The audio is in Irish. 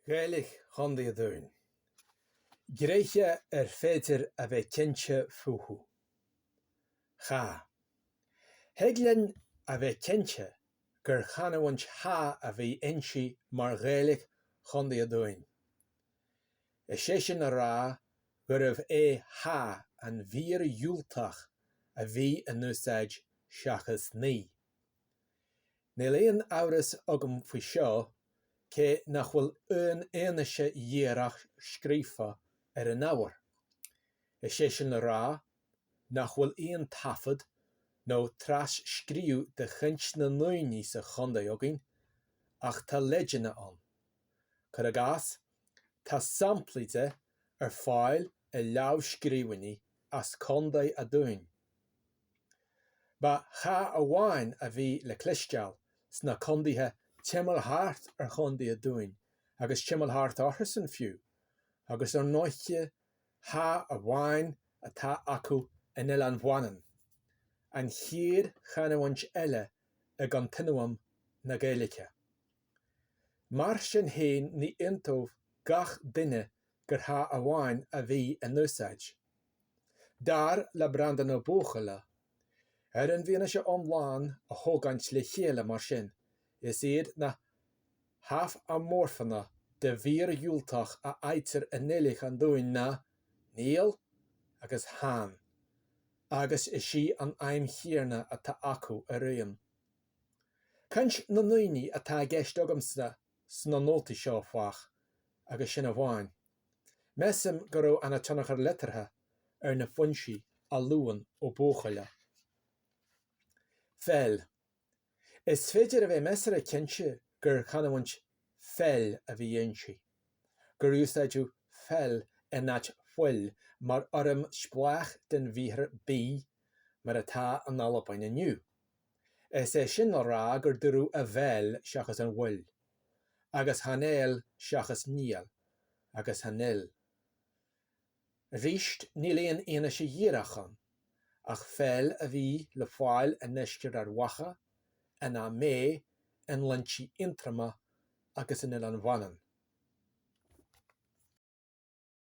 Gaeilge Chontae an Dúin, tréithe ar féidir a bheith cinnte fúthu. Cha. Thig linn a bheith cinnte gur chanúint Cha a bhí inti mar Ghaeilge Chontae an Dúin, is é sin a rá gurbh é Cha an mhír dhiúltach a bhí in úsáid seachas Ní. Níl aon amhras agam faoi seo, cé nach bhfuil aon fhianaise dhíreach scríofa ar an ábhar. Is é sin le rá, nach bhfuil aon taifead nó tras-scríobh de chaint na ndaoine sa chontae againn, ach tá leideanna ann. Cuir i gcás, tá samplaí de ar fáil i lámhscríbhinní as Contae a' Dúin. Ba cha amháin a bhí le cloisteáil sna condaetha timeall thart ar Chondae a Dúin agus timeall thart orthusan fiú, agus ar ndóiche cha amháin atá acu in Oileán Mhanann, an chéad chanúint eile i gcontinuam na Gaeilge. Mar sin fhéin ní aontódh gach duine gur cha amháin a bhí in úsáid. Dar le Breandán Ó Buachalla, ar an bhfianaise iomlán a thógaint le chéile mar sin, is iad na hallamorfanna de mhír dhiúltach a fhaightear i nGaeilge an Dúin ná ní agus chan, agus is í an fheidhm chéanna atá acu araon. Caint na ndaoine atá i gceist agamsa sna nótaí seo, áfach, agus sin amháin. Measaim go raibh ana tionchar liteartha ar na foinsí a luann Ó Buachalla. Feil. Is féidir a bheith measartha cinnte gur chanúint feil a bhí inti, gur úsáideadh feil in áit fuil mar fhoirm spleách den bhriathar bí mar atá in Albain inniu, is é sin le rá gur dúradh 'a bheil' seachas 'an bhfuil' agus 'chan eil' seachas 'níl' agus 'chan fhuil'. Arís, níl aon fhianaise dhíreach ann, ach 'feil' a bhí le fáil i ndeisceart Ard Mhacha, in Ó Méith, i nGlinntí Aontroma agus in Oileán Mhanann.